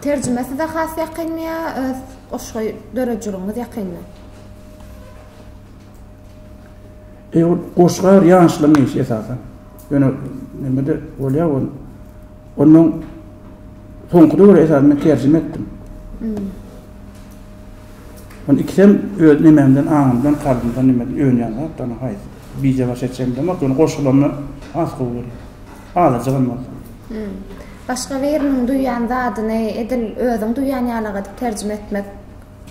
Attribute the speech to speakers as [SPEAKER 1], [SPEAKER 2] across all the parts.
[SPEAKER 1] Terjime size has ýakynmy ýa öz goşgy döredijiligiňiz ýakynmy? E, goşga ýaşlaryň işi esasan. Ýöne nimede bolýar ol. Ondan soňky döwür esasan men terjime etdim. Hmm. Onu ikisem öz nememden, aňymdan, kalbymdan nimeden öňýän zat, ana haýsy. Bije baş etjemden bak, ýöne goşgularymda has gowy görýär. Azaja bolmaly. Başga biriniň duýýan zadyny edil özüň duýýan ýalyrak edip terjime etmek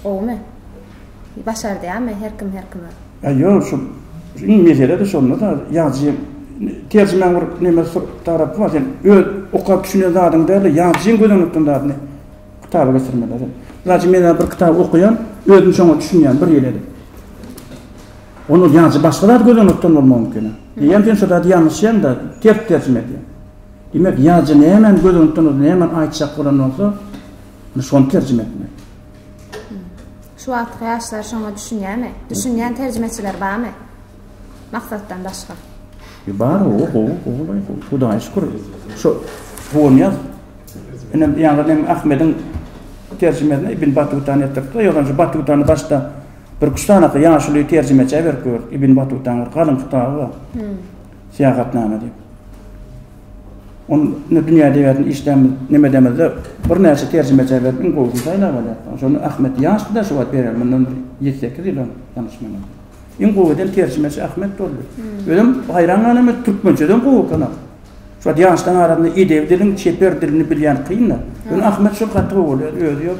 [SPEAKER 1] gowumy? Başardýamy her kim her kime? Ýa ýok şu iň meselede şonda-da ýazyjyň terjimäň bir neme tarapy bar sen öz okap düşünen zadyňy däl-de ýazyjyň göz öňüne tutýan zadyny kitaba geçirmeli. Ýa-da men bir kitaby okaýan özüm şoňa düşünýän bir ýyl edip. Onda ýaňçy başga zady gözlemekden bolmagy mümkin. Diýýän sen şu zady ýalňyşýaňda, ters-tersine diýýän. Diýmek, ýazyja nämäni gözlemekden bolsa, nämäni aýtjak bolan bolsa, şony terjime etmeli. Şu wagtky ýaşlar şoňa düşünýärmi? Düşünýän terjimeçiler barmy? Maksatdan başga. E bar, o, o, o, Hudaýa şükür. Şu Hunyýaz inem ýaňy Ahmediň terjimesini Ibn Battuta etdiripdi. Ýöne şu Battutany başda Bir üç sany ýaşuly terjimeçä berip gördük. Ibn Batutaň bir galyň kitaby bar. Syýahatnama diýip. Ony indi dünýä edebiýatyny işlänmiz, neme edemizde birnäçe terjimeçä berip iň gowusyny saýlap alýarys. Şonda Ahmet ýaşdy-da şu wagt bereli, mundan bir ýedi, sekiz ýyl öň ýalňyşmaýsam. Iň gowy eden terjimeçi Ahmet boldy. Özem haýran galan men türkmençeden gowy ekeni. Şu wagt ýaşlaryň arasynda edebi diliň, çeper dilini bilýän kyn-da. Ýöne Ahmet şol gaty gowy bolýar, özi ýok.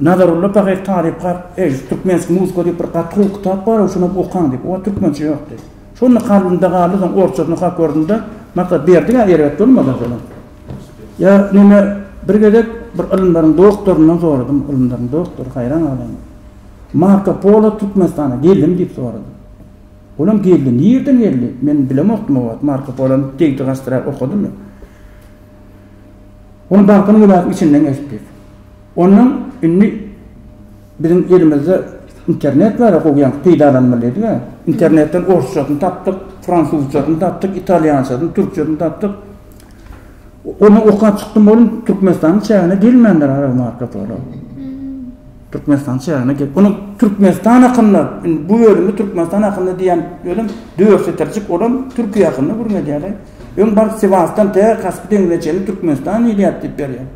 [SPEAKER 1] Nazarulla Pahyr talyp kar, Eý, türkmenski muzka diýip bir gaty gowy kitap bar-ow, şonam okaň diýip. Oňa türkmençe ýok diýdi. Şonda kalbymda galdy, soň orçasyny okap gördüm-de, Maksat Berdi-ä erbet bolmaz aslynda. Ýa neme, bir gezek bir ylymlaryň doktoryndan soradym, ylymlaryň doktory, haýran galaýma. Marko Polo Türkmenistana geldimi diýip soradym. Olam geldi, nirden geldi, men bilemokdym o wagt, Marko Polony degdi gaçdyra okadymy. Ony Balkan welaýatynyň içinden geçdi diýip. Ondan indi biziň elimizde internet bar-a gowy ýaňky peýdalanmalydyga. Internetden orsçasyny tapdyk, fransuzçasyny tapdyk, italýançasyny, türkçesini tapdyk. Ony okap çykdym oglum, Türkmenistanyň çägine gelmändir araby markasy olar. Türkmenistanyň çägine gel. Onuň Türkmenistan hakynda, indi bu bölümi Türkmenistan hakynda diýen özem dört setirjik, olam Türkiýe hakynda gürledýärler. Öň baryp Sewasdan tä Kaspy deňzine çenli Türkmenistan diýilýär diýip berýär.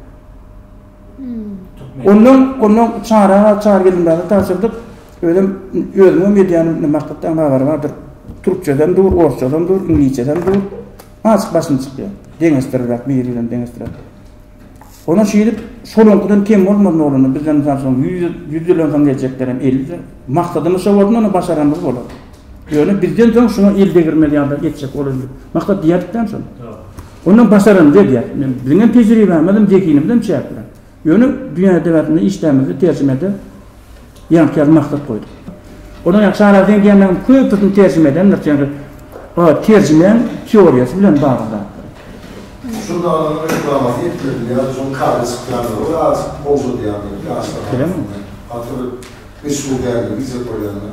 [SPEAKER 1] Ondan, ondan çara bar, çary gelinmäge tabşyrdyk. Özüm, özümem edýän, indi maksatdan habary bardyr. Türkçeden dur, orsçadan dur, iňlisçeden dur. Açyk başym çykýar. Deňeşdirirek, biri bilen deňeşdirip. Ondan şeýdip, şolaňkydan kem bolmaz nolany, bizden mysal üçin, ýüz, ýüz ýyldan soň geljekler hem elli ýyl. Maksadymyz şo bolsun, ony başaranymyz bolar. Ýöne bizden soň şuňa el degirmez ýaly etjek ol indi. Maksat diýýärdik-dä şony. Ondan başaranymyzy edýäris. Men biziň hem tejribämiz hem zehinimiz hem çäkli. Ýöne dünýä edebiýatynda işdämizde terjimede ýaňky ýaly maksat goýduk. Onuň ýaňky Çary aga seň diýenleriňiň köpüsini terjime edendir. Çünki o terjimeň teoriýasy bilen bagly zatlar. Şunda onuň reklamasy etmedimi ýa-da şonuň kady çykýandygy bir az gowşadýandygy ýaşlar arasynda gaty bir meşhur däldir diýjek bolýandyr.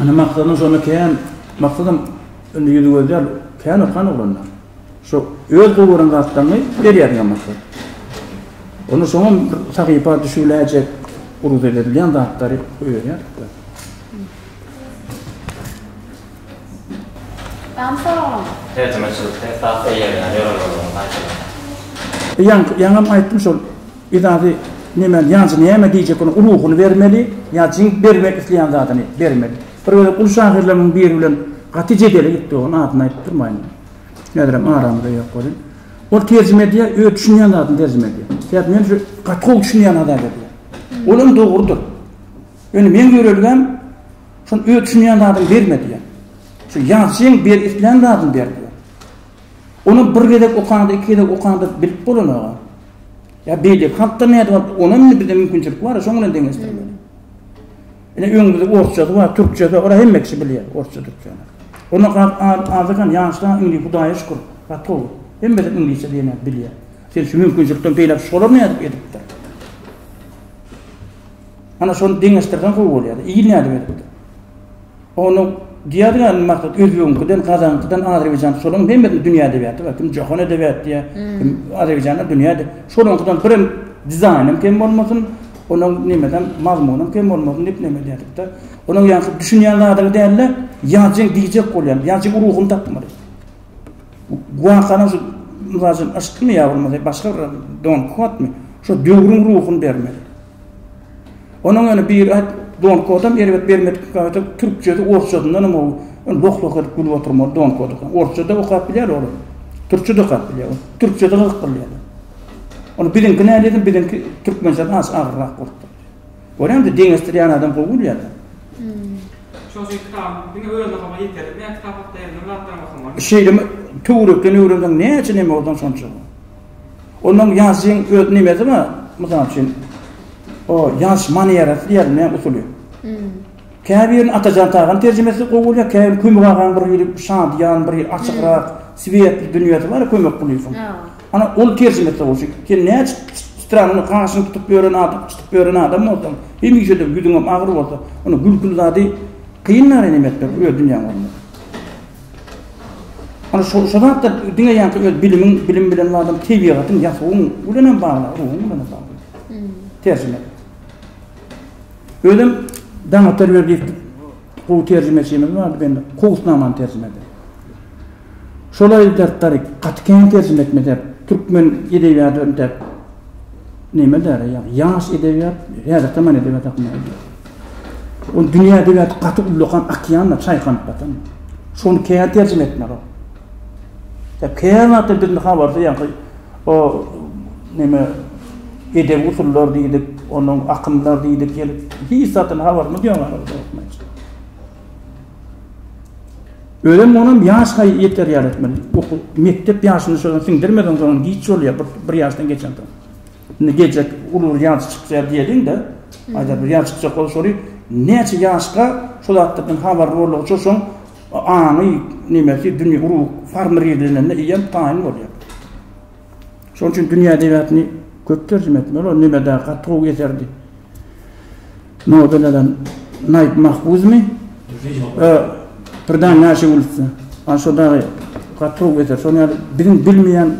[SPEAKER 1] Ine maksadym şonda kän maksadym indi ýüzi gözýär kän okan oglanda. Şo öz gowy gören zatlaryňy berýär diýen maksat. Onda şoňam bir sahypa düşüläýjek uruz edilýän zatlary goýberýär. Tamam soraglaň. Terjimeçilikde esas eýerýän ýörelgelerini aýdyň. Ýaňam aýtdym şol Biz azy nemäni ýaňja näme diýjek bolan ruhuny bermeli ýa jiň bermek isleýän zadyny bermeli. Bir gezek uly şahyrlarymyň biri bilen gaty jedele gitdi oň adyny aýdyp durmaýyn. Häzirem aramyzda ýok welin. Ol terjime edýär öz düşünýän zadyny terjime edýär. Sebäbi men şu gaty gowy düşünýän adamyň edýär. Ol hem dogrudyr. Ýöne meň ýörelgäm şol öz düşünýän zadyňy berme diýýär. Şu ýazyjyň ber islän zadyny ber diýýär. Ony bir gezek okaňda, iki gezek okaňda bilip bolanaga, ýa beýleki halkda nädip alyp, ony hem indi bizde mümkinçilik bar-a, şoň bilen deňeşdirmeli. Ine, öňümizde orsçasy bar, türkçesi bar, ora hemme kişi bilýär, orsça, türkçäni. Onda gaty az ekeni, ýaşlar hem indi, Hudaýa şükür, gotow, hemme zat iňlisçe diýenleri bilýär. Sen şu mümkinçilikden peýdalanyp, şolar nädip edipdir? Ana, şony deňeşdirseň gowy bolýar-da. Il nädip edipdir? Onuň diýýär ýaly maksat özbegiňkiden gazanyňkydan azerbaýjançy şolaryň hemmesiniň dünýä edebiýaty bar kim jahan edebiýaty diýýär kim azerbaýjanda dünýä şolaryňkydan birem dizaýnam kem bolmasyn onuň nemesem mazmunam kem bolmasyn diýip neme edýärdik-de onuň ýaňky düşünýän zadyňy däl-de ýazjyň diýjek bolýan ýazjyň ruhuny tapmaly wakanyň şu mysal üçin yşkmy ýa bolmasa başga bir don kuwatmy şo döwrüň ruhuny bermeli. Onuň ýöne biri aýt, Don Kodam erbet bermedik gaýta türkçesi orsçasyndan hem gowy. Ol loh-loh edip gülüp oturmaly Don Koda. Orsça-da okap bilýär ol. Türkçe-de okap bilýär ol. Türkçe-de gyzyk bilýär. Ony biziňki näledim biziňki türkmençeden az agyrrak bolup dur. Görýäňmi deňeşdirýän adam gowy bilýär-de. Şonuň üçin kitabyň diňe özüni okamaga ýeterlik. Näme kitap hakda ýazylan zatlaram okamaly. Şeýle töwerekden öwrenseň näçe neme odan şonça. Onuň ýazyjyň öz nimesi bar, mysal üçin, o ýazyş manýerasy diýerin, näme usuly. Käbirini Atajan Taganyň terjimesi gowy bolýar, käbirini Kömek agaň bir hili şadyýan, bir hili açygrak, swietli dünýesi bar, Kömek Kulyýewiň. Ana, ol terjimesi gowy. Çünki sen näçe stranyň gaşyny tutup ýören adam, çytyp ýören adam bolsaň, hemişe-de ýüzüňem agyr bolsa, onda gülküli zady kyn näme etmek, öz dünýäň bolmasa. Ony şo, şo zatda diňe ýa-da öz bilimiň, bilim bilen baglanyp, tebigatyň, ýasawyň bilen hem bagly, ruhuň bilen hem bagly. Hmm. Terjime. Özüm Daňat Terberdiýew gowy terjimeçimiz bardy bendi. Kowusnamany terjime etdi. Şolaý zatlar gaty kän terjime etmedi. Türkmen edebiýaty öndäp. Näme däre, ýaş edebiýat, häzirki zaman edebiýaty hakynda. Ol dünýä dibäti gaty ullakan okeanda çaýkanyp ýatan. Şony kän terjime etmelirok. Sebäbi kän zatdan birini habarsyz ýaňky o neme edebi usullar diýdik, onuň akymlar diýdik gelip, hiç zatdan habarymyz ýok ýaly bolsa gerek. Özem onam ýaşa ýeterýär etmeli. Okuw mekdep ýaşyny şoňa siňdirmeseň soň giç bolýar bir ýaşdan geçensoň. Indi geljek uly bir ýazyjy çykýar diýeliň-de, aýdar bir ýazyjy çykjak bolsa şony näçe ýaşka şol zatlardan habarly boldugy üçin şoň aňy, nemesi, dünýe urugy formirlenende eýýäm taýyn bolýar. Şonuň üçin dünýä edebiýatyny köp terjime etmeli. Ol neme-de gaty gowy eserdi. Nobeleden Naýyp Mahfuzmy? Birden näşe bolupdy. Ana şo dagy gaty gowy eser. Şonuň ýaly biziň bilmeýän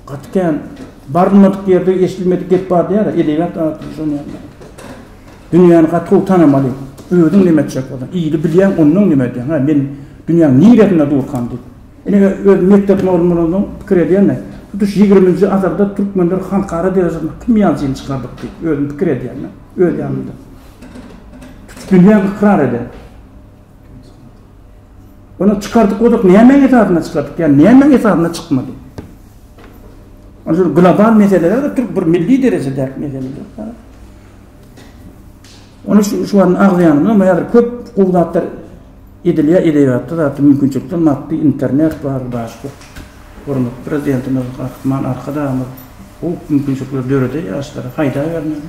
[SPEAKER 1] Gaty kän barylmadyk ýerde eşidilmedik gep bar diýýärä, edebiýat atly žurnalda. Dünýäni gaty gowy tanamaly. Özüň näme etjek bolsaň, ýyly bilýäň, onnoň näme edýäň? Hä, men dünýäň niresinde durkam diýip. Ine, özüm mekdep mugallym bolansoň pikir edýän-de, tutuş ýigriminji asyrda türkmenler halkara derejesinde kim ýaly jyny çykardyk diýip, özüm pikir edýän-de, öz ýanymda. Tutuş dünýä ykrar edýär. Ony çykardyk bolsak, nämäň esasynda çykardyk ýa nämäň esasynda çykmady? Ony şu global meseleler, türk bir milli derejede meseleler. Ony şu şu an agzaýanymda, men häzir köp gowy zatlar edilýär, edebiýatda zatda mümkinçilikler, maddi internet bar, başga. Hormatly prezidentimiz, Gahryman Arkadagymyz bu mümkinçilikleri döredýär ýaşlara, haýdar bermeli.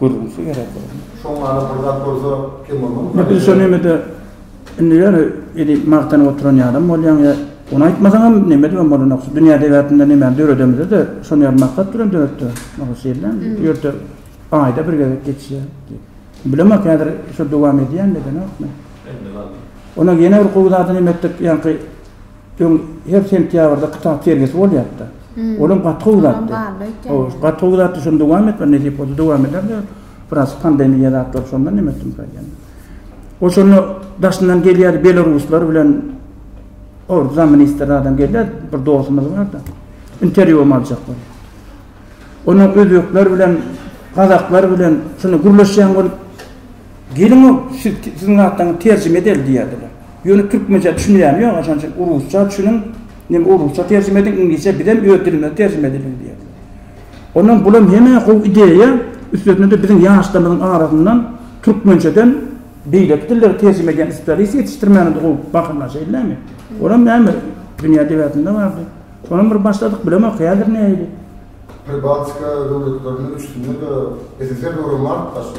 [SPEAKER 1] Gürrüňsi gerek bolmaz. Şoň many bir zat bolsa kim bolmaly. Indi biz şo nemede indi ýöne edil magtanyp oturan ýalam bolýaň ýa ony aýtmasaňam neme edibem bolanok şu dünýä debäpinde nemäni döredemizde de şony ýaly maksat bilen döretde maksat şeýdibem bu ýerde aýda bir gezek geçýär diýip. Bilemok häzir şo dowam edýänmi edenokmy. Indi galdy. Ony ýene bir gowy zady neme etdik ýaňky Öň her sentýabrda kitap sergisi bolýardy. Olam gaty gowy zatdy. Hawa, gaty gowy zatdy, şony dowam etme, nesip bolsa dowam ederler. Biraz pandemiýa zatlary şondan neme etdim ka ýene. Oşunda daşyndan gelýärdi, belaruslar bilen or zaministrler adam gelýär, bir dostumyz bardy. Interwýum aljak bolýar. Onuň özbekler bilen, gazaklar bilen şunda gürleşýän bolup Geliň-ow, siz, siziň zatlaryňy terjime edeli diýerdiler. Ýöne türkmençä düşünýäm ýok, şonuň üçin rusça düşüniň, ýa rusça terjime ediň, iňlisçe bizem öz dilimize terjime edeliň diýerdiler. Ondan bulam heme gowy ideýa, üstesine-de biziň ýaşlarymyzyň arasyndan türkmençeden beýleki dilleri terjime edýän spesialist ýetişdirmäni-de gowy bakyplar, şeýdilemi? Olam näme, dünýä debäsinde bardy. Şonam bir başladyk, bilemok häzir nähili. Pribaltika döwletleriniň üçüsinde-de SSR döwrem bardyk başda.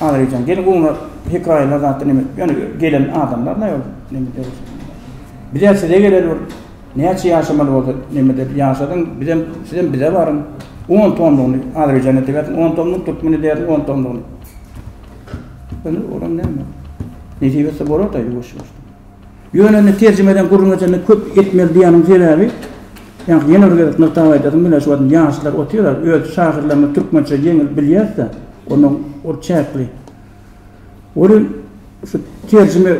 [SPEAKER 1] Agrijan gel gowna hekaýalar zatda neme ýöne gelen adamlar näme ol neme deriz. Bizä size geleli bir näçe ýaşamaly bolsa neme deriz ýaşadyň bizem sizem bize baryň. On tomlugyny Agrijan edebersin on tomluk türkmen edersin on tomlugyny. Ýöne olam näme. Nesip etse bolar-da ýuwaş-ýuwaş. Ýöne indi terjime eden gürrüň edende köp etmeli diýýäniň sebäbi, ýaňky ýene bir gezek nygtap aýdasym gelýär, şu wagt ýaşlar otyrlar, öz şahyrlarymyz türkmençe ýeňil bilýäs-de, onuň ur çäkli. Welin, şu terjime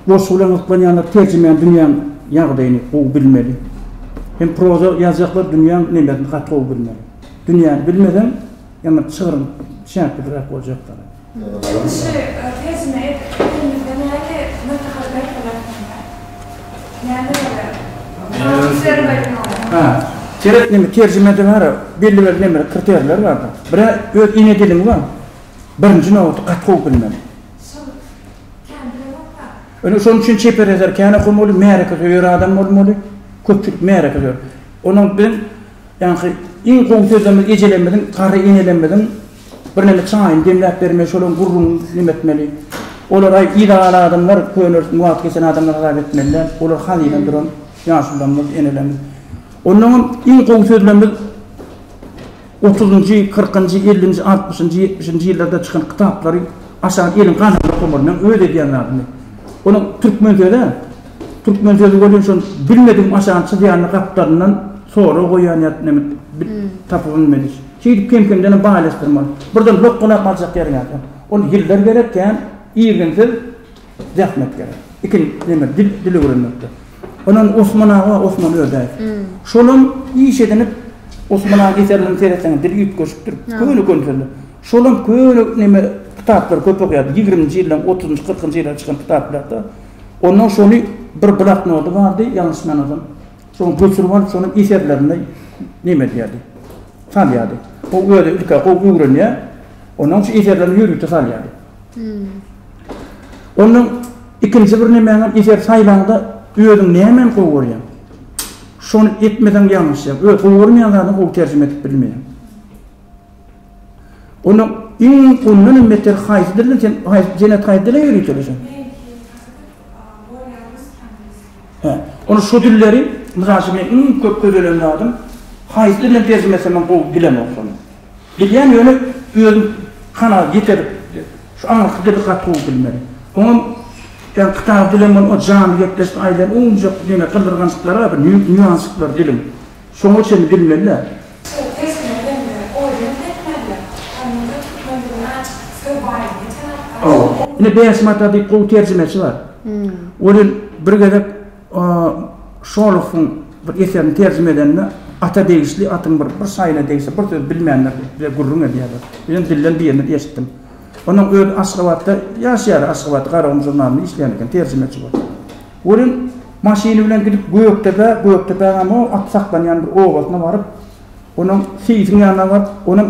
[SPEAKER 1] goşgy bilen gyzyklanýanlar terjimäni dünýäň ýagdaýyny gowy bilmeli. Hem proza ýazjaklar dünýäň nemesini gaty gowy bilmeli. Dünýäni bilmeseň, ýaňa çygryň çäklidiräk boljak. Ýeňişi tersine edip elimizde nähili maslahat berseler şonda? Näme bolar? Hä. Seret neme terjimede bar belli bir nemeler kriterler bar. Birä öz ene diliň bar. Birinji nobatda gaty gowy bilmeli. Şol kän bilenokda. Ine şonuň üçin çeper ýazar kän okamaly, märeke söýer adam bolmaly. Köpçülik märeke söýer. Onuň biziň ýaňky iň gowy sözlerimiz ejelerimiziň, garry enelerimiziň. Birneme çaýyny demläp bermeli, şolaň gürrüňini diňläp etmeli. Olar-aý yzagaly adamlar, könelikden wagt geçen adamlar hasap etmeli däl. Olar hazyna duran ýaşulylarymyz, enelerimiz. Onnoňam iň gowy sözlemimiz otuzynjy, kyrkynjy, ellinji, altmyşynjy, ýetmişinji ýyllarda çykan kitaplary aşak eliň gany bilen okamaly. Meň öz edýän zadymy. Onuň türkmen sözi, türkmen sözi welin şol bilmedigim aşagyny çyzýanyny gapdalyndan sorag goýýan ýa neme bir tapyp bilmedik. Şeýdip kem-kemdenem baýlaşdyrmaly. Birden lok-guna galjak ýeriň ýa kem. Ol ýyllar gerek kän irginsiz zähmet gerek. Ikin neme dil dil öwrenmekde. Onuň Osman aga Osman Ödäýew. Şolam iş edinip Osman aga eserlerini seretseňiz dili üýtgeşikdir. Köne köne sözler. Şolam köne neme kitaplary köp okýardy. Ýigriminji ýyllaryň otuzynjy kyrkynjy ýyllarda çykan kitaplarda. Ondan şony bir bloknoty bardy ýalňyşmamasam. Soň Gülsürman şonuň eserlerini neme edýärdi? Salýardy. Ol özi ilk-ä gowy öwrenýär, ondan soň şu eserlerini ýörite salýardy. Ondan ikinji bir nemäňem eser saýlaňda özüň nämäni gowy görýäň? Şony etmeseň ýalňyşýaň. Öz gowy görmeýän zadyňy gowy terjime edip bilmeýäň. Onda iň ondan hem beter haýsy dilde sen haýsy jenet haýsy dile ýörite öýdýäň? Hä. Onda şu dilleri mysal üçin men iň köp gözelen zadym haýsy dilden terjime etsem men gowy bilemok şony. Bilýän ýöne özüm kanagat ýeter şu aňyrky dili gaty gowy bilmedim. Oňam ýa kitap dilem bolma janly gepleşik aýdan ownujak diňe gyzgyrgançyklar bar bir nýuansyklar diliň. Şoňa çenli bilmeliler. Çygyp sesini öňüne oýdan setmeliler. Onuň da türkmendigini aç, söz baýlygyny tanap aç. Ine Bäş mata diýip gowy terjimeçi bar. Welin bir gezek Şolohowyň bir eserini terjime edende Ata degişli atyň bir bir şaýyna degse bir söz bilmändir diýip bize gürrüň edýärler. Bizem dilden birini eşitdim. Onuň özi Aşgabatda ýaşaýar, Aşgabat Garagum žurnalyna işleýän eken, terjimeçi bolup. Welin, maşyny bilen gidip Gökdepä, Gökdepäňem o at saklanýan bir obasyna baryp, onuň seýisiň ýanyna baryp, onuň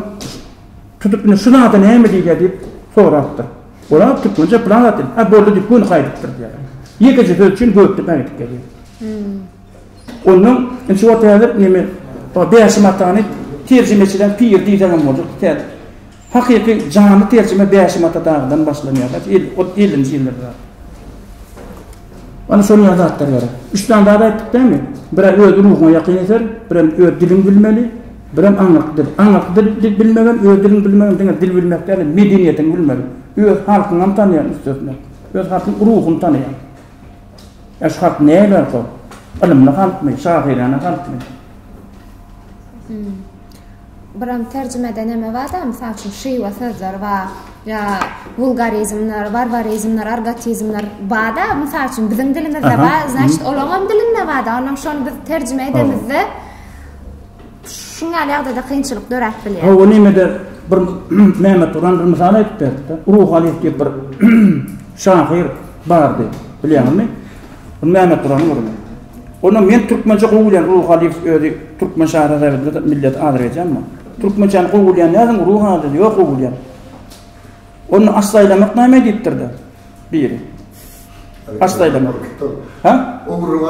[SPEAKER 1] tutup, indi şu zada näme diýilýär diýip sorapdyr. Ol-a türkmençe pylan zat diýip, hä, boldy diýip, göni gaýdypdyr diýýär. Ýekeje söz üçin Gökdepä gidip gelýär. Onnoň, indi şu wagt häzir neme, o Bäşim atany terjimeçileň piri diýseňem boljak, tä. Hakyky janly terjime Bäşim ata dagydan başlanýar da, el, ol ellinji ýyllarda zat. Ana şol ýaly zatlar gerek. Üç sany zat aýtdyk dämi? Birä öz ruhuňa ýakyn eser, birem öz diliňi bilmeli, birem aňňatly dil. Aňňatly dil, dil bilmegem, öz diliňi bilmegem diňe dil bilmek däl-de, medeniýetiňi bilmeli. Öz halkyňam tanýaň üstesine. Öz halkyň ruhuny tanaýaň. Ýa şu halk näýe laýyk ol? Ylymly halkmy, şahyrana halkmy? Buram terjimede neme bar-da, mysal üçin, şywa sözleri bar, ýa wulgarizmler, warwarizmler, argotizmler bar-da, mysal üçin, biziň dilimizde bar, znaçit, olaňam dilinde bar-da, onam şony biz terjime edemizde, şuň ýaly ýagdaýda kynçylyk döräp bilýär. Hawa, nemede bir Mehmet Guran bir mysal aýdyp berdi-de, Ruhaliýew diýip bir şahyr bardy, bilýäňizmi? Mehmet Gurany görüň. Onda men türkmençe gowy bilýän Ruh Aliýew özi türkmen şahyry Azerbaýjanda milleti Azerbaýjan mu? Türkmençäni gowy bilýän nädin Ruh Aliýew ýok gowy bilýän. Onda aslaýlamak näme diýipdir de biri. Aslaýlamak. Ha?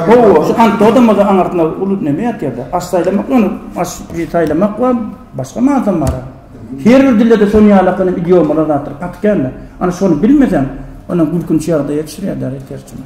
[SPEAKER 1] Gowy şu Antoda da aňartma ulut näme ýatýarda? Aslaýlamak ony as taýlamak we başga manysam bar. Her bir dilde de şony ýalakyny idiomalar zatdyr. Atykenle. Ana şony bilmeseň, ana gülkünç ýagdaýa düşürýär däli terjime.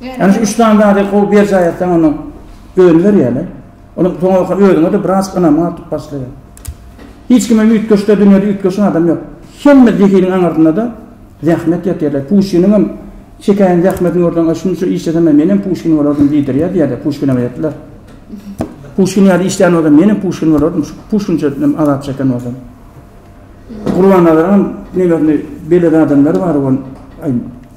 [SPEAKER 1] Ýani şu üç sany zady gowy berjaý etseň onda özüni berýärle. Onda soňra özüňe-de biraz ynam artyp başlaýar. Hiç kime üýtgeşde dünýäde üýtgeşen adam ýok. Hemme zehiniň aňyrsynda-da zähmet ýatyr. Puşkiniň hem çekäýen zähmetini görseň, a şunça işlesemem men hem Puşkin bolardym diýdirýär diýerler Puşkine beýetler. Puşkin ýaly işlän bolsam men hem Puşkin bolardym, şu Puşkinçe azap çeken bolsam. Gurban Nazaryň hem nebesini beledi adamlary bar ol.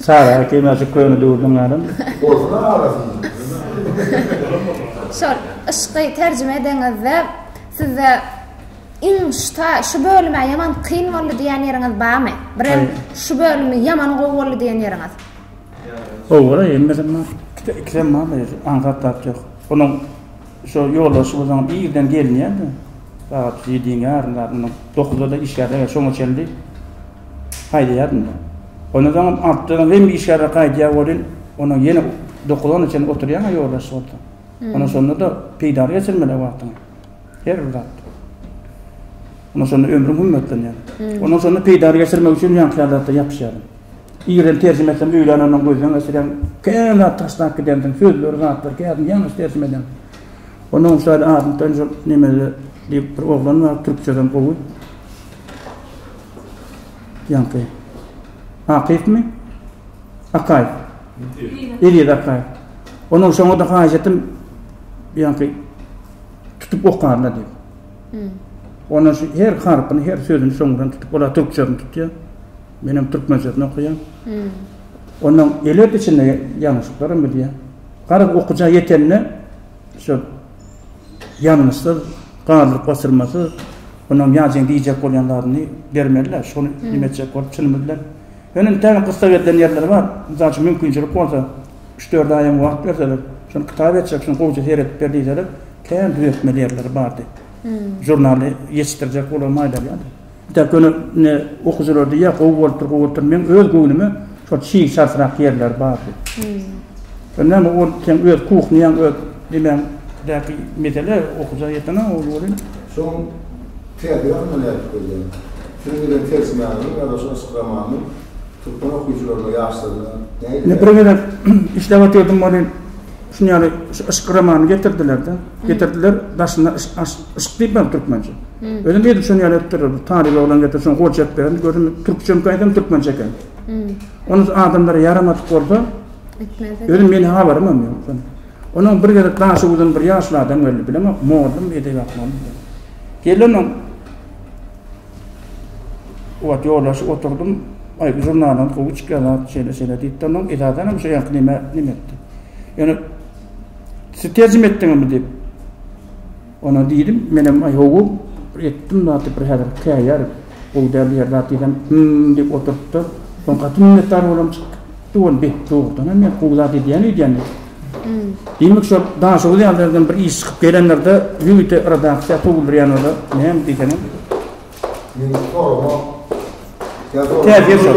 [SPEAKER 1] Sara ätiýem ýaşy köne döwürden galan. Bolsun arasynda. Şol yşky terjime edeňizde sizde iň şta şu bölüme ýaman kyn boldy diýen ýeriňiz barmy? Birem şu bölümi ýaman gowy boldy diýen ýeriňiz. Owala hemmesem bar. Ikisem bar-da ýöne aňsat zat ýok. Onuň Şo ýoldaşymyzyň irden gelýändi. Sagat ýediň ýarymda mundan dokuzda-da işgärler gelýär. Şoňa çenli haýdaýardym. Ondan soň hem aptekaň hem işgärler gaýdýar welin, onuň ýene dokuzana çenli oturýan ýoldaş bolsa. Ondan şonda-da peýdaly geçirmeli wagtyňy. Her bir zat. Ondan şonda ömrüň hümmetlenýär. Ondan şonda peýdaly geçirmek üçin ýaňky ýaly zatlar ýapyşýar. Ýerden terjime etsem öýlän ondan gözden geçirýän kän zat taşlap gidendim sözleri zatlar kädim ýalňyş terjime edem. Ondan uçaýda adyny tanjyr nemede diýip bir oglan bar türkçeden gowy. Ýaňky. Akypmi? Akay. Ýeri Akay. Ondan soňra da haýyş etdim ýaňky tutup okarna diýip. Hmm. Ondan her harpyny, her sözüni soňdan tutup, ola türkçeden tutýar. Menem türkmen sözüni okaýan. Ondan elet içinde ýalňyşyklaram edýän. Garaz okyja ýetende şu ýalňyşsyz, galdyryp goşulmasyz onam ýazyň diýjek bolýan zadyny bermeli-le, şony nime etjek bolup çynym bilen. Ýöne entägem gyssag edilen ýerleri bar. Mysal üçin mümkinçilik bolsa, üç-dört aýam wagt berseler, şony kitap etjek, şuny gowja seredip ber diýseler, kän düzeltmeli ýerleri bardy. Žurnaly ýetişdirjek bolan maýlalyýady. Dek öne ne okyjylar diýýär gowy bolupdyr gowy bolupdyr meň öz göwnüme şol çig çaltrak ýerler bardy. Şo näme ol seň öz kuhnýaň öz diýmän däki mesele okyja ýeten a ol welin. Şoň täze ýagyndan ädip gelýän. Şunuň bilen ters manyly ýa-da şu yşk romanynyň türkmen okyjylaryna ýaşlaryna näýip. Ine bir gezek işläp otyrdym welin şuny ýaly şu yşk romanyny getirdiler-de. Getirdiler daşynda yşk yşk diýip bar türkmençe. Özüm edip şony ýaly etdirdim. Talyp oglan getirip şony goljap berdim. Gördüm türkçemkä eýsem türkmençe eken. Ony adamlara ýaramadyk bolsa etmezdi. Özüm meniň habarymam ýok şony. Onuň bir gezek Daşoguzdan bir ýaşly adam geldi. Bilemok, mollum, edebiyat mollumy. Geldim oň Obat ýoldaşy oturdym. Aý, bu žurnalyň gowy çykýar zat, şeýle şeýle diýip, onuň edadan hem şeýle nime nime etdi. Ýöne siz terjime etdiňizmi diýip, Ona diýdim, menem aý ho-wo bir etdim zady bir häzir käýär, gowy däl diýer zat diýsem, Hym-m diýip oturypdyr. Soň gaty minnetdar bolam çykyp gitdi ol, Beh, dogrudan hem men gowy zat edýän öýdýän diýip. Diýmek şol Daşoguz ýaly ýerden bir iş çykyp gelenlerde ýörite redaksiýa sowuldyrýan bolsa näme diýseňem. Meniň soragym täsir şol.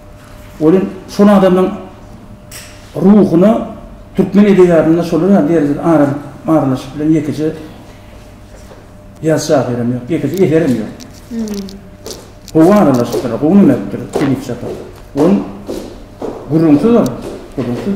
[SPEAKER 1] Ol hem şol adamlaryň ruhuna türkmen edebiýatynda şolar ýaly derejede aralaşyp bilen ýekeje ýaz şahyrym ýok, ýekeje eserim ýok. Gowy aralaşypdyr, gowy näme edipdir Tebiş Japarow. Ol gürrüňsiz ol, gürrüňsiz.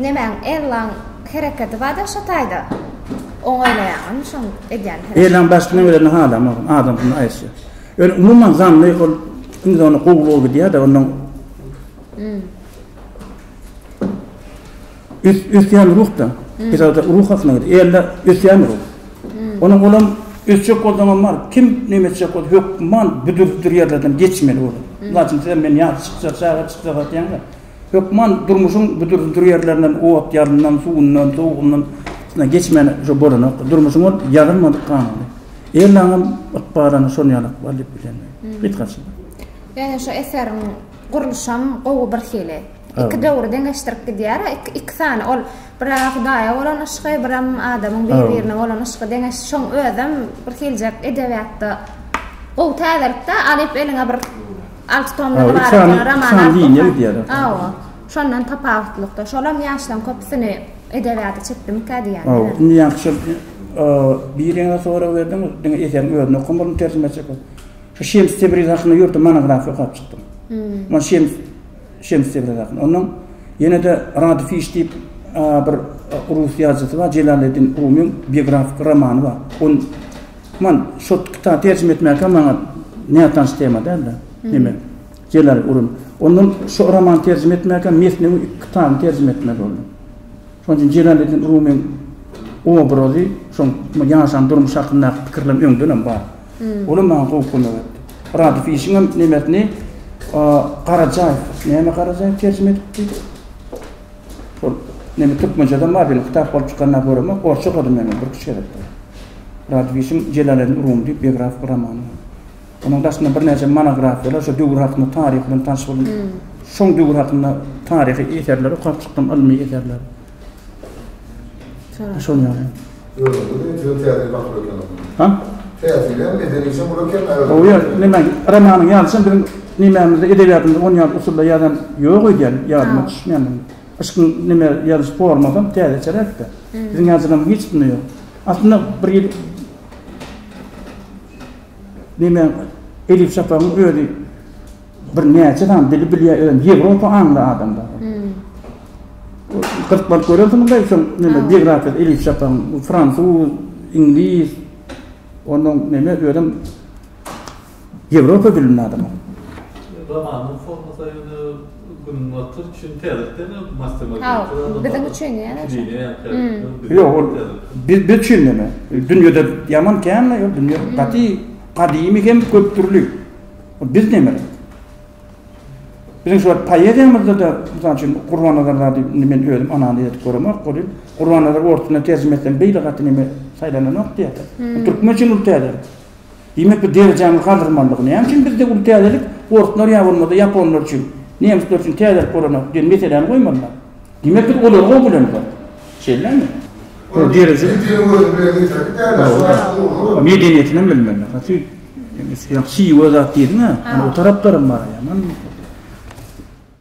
[SPEAKER 1] Nemäň Ellaň hereketi bar-da şo taýda. Oňaýlaýaňam şoň edýän hereketi. Ellaň başga näme bilenini halamok. Adam şuny aýtsa. Ýöne umuman zanny ol indi ony gowy gowy gidýär-de ondan. Ösýän ruhda, Etrapda ruh hakynda gidýär. Ýerde ösýän ruh. Onuň olam ösjek bolsaňam bar, kim näme etjek bolsa hökman bu dürdir ýerlerden geçmeli olar. Mysal üçin sizem men ýaş çykja, çaga çykja gaýtýaňda, hökman durmuşyň bu dürdir ýerlerinden, ot ýazyndan, suwundan, sowugyndan içinden geçmän şu bolanokdyr. Durmuşyň ol ýazylmadyk kanuny. Ellaňam ykbalyny şonuň ýaly ykbal diýip bilýän men. Hyt gaçma. Ýöne şu eseriň gurluşam gowy birhili. Iki döwri deňeşdirip gidýär. Iki, iki sany ol bir Hudaýa bolan yşky, biram adamyň bir-birine bolan yşky deňeş. Şoň özem bir hiljek edebiýatda gowy täzelikde alyp eliňe bir alty tomdan ybarat roman alyp. Hawa. Şondan tapawutlykda. Şolam ýaşlaň köpüsini edebiýata çekdimikä diýýän. Hawa. Indi ýaňky şol birine sorag berdim, diňe eseriň özüni okan boldum terjime çekip. Şu Şems Tebriz hakynda ýörite monografiýa okap çykdym. Şems Şems de biraz ýakyn. Ondan ýene-de Rad Fiş diýip bir rus ýazyjysy bar, Jelaleddin Rumyň biografiki romany bar. Ony man şo kitaby terjime etmäkä maňa nätanyş tema däldi. Neme? Jelal Urum. Ondan şo romany terjime etmäkä Mesnewi iki kitabyny terjime etmeli boldum. Şonuň üçin Jelaleddin Rumyň obrazy, şoň ýaşan durmuş hakyndaky pikirlerim öňden hem bar. Olam maňa gowy kömek etdi. Rady Fişiňem nemersini Garajaýew, näme Garajaýew terjime edipdi? Ol neme türkmençeden bar diýen kitap bolup çykanda göremok, orsça okadym men ony bir iki gezek. Rady Fişiň Jelaleddin Rumy diýip biografik romany. Onuň daşynda birnäçe monografiýalar, şo döwür hakynda taryh bilen tanyş boldum. Şoň döwür hakynda taryhy eserleri okap çykdym, ylmy eserleri. Şonuň ýaly. Özüňizi juda täsin baplar ekeniňiz. Hä? Täsinem, medenisem uly eken aýratyn. Oýe, näme, romanyň ýalysam biziň nemämizde, edebiýatymyzda on ýaly usulda ýazan ýok öýdýän, ýadyma düşmeýän indi. Yşkyň neme ýazyş formasam täzeçeräk-de. Biziň ýazyjylarymyzyň hiç kimde ýok. Aslynda bir ýyl nemäň, Edip Şapagyň özi, Bir näçe sany dili bilýär özem ýewropa aňly adam bar. Gyrt balyk görersiň mundaý şoň neme biografiýasy Elif Şapagyň fransuz, iňlis onnoň neme özem ýewropa dilinde adam ol. Romanyň formasy ýöne günbatar üçin täzeden öň mastermag ýaly. Biziň üçin ýa-da. Ýok ol biz biz üçin neme dünýede ýaman kän ýa dünýe gaty gadymy hem köp dürli. Biz nemedik? Biziň şu wagt poeziýamyzda-da, mysal üçin, Gurbannazar zady indi men özüm analiz edip göremok welin, Gurbannazar orsçudan terjime etseň beýle gaty neme saýlananok diýýärler. Bu türkmen üçin uly täzelik. Diýmek, bu derejämizi galdyrmalydygy. Näme üçin bizde uly täzelik, orslar ýa bolmasa ýaponlar üçin, nemisler üçin täzelik bolanok diýen meseläni goýmalylar. Diýmek biz olar gowy bilen zat. Şeýlemi? Ol derejeli. Diliň özüni bilen ýetirip däl. Medeniýetinem bilmeli. Gaty şiwe zat diýdiňä. Ol taraplarym bar.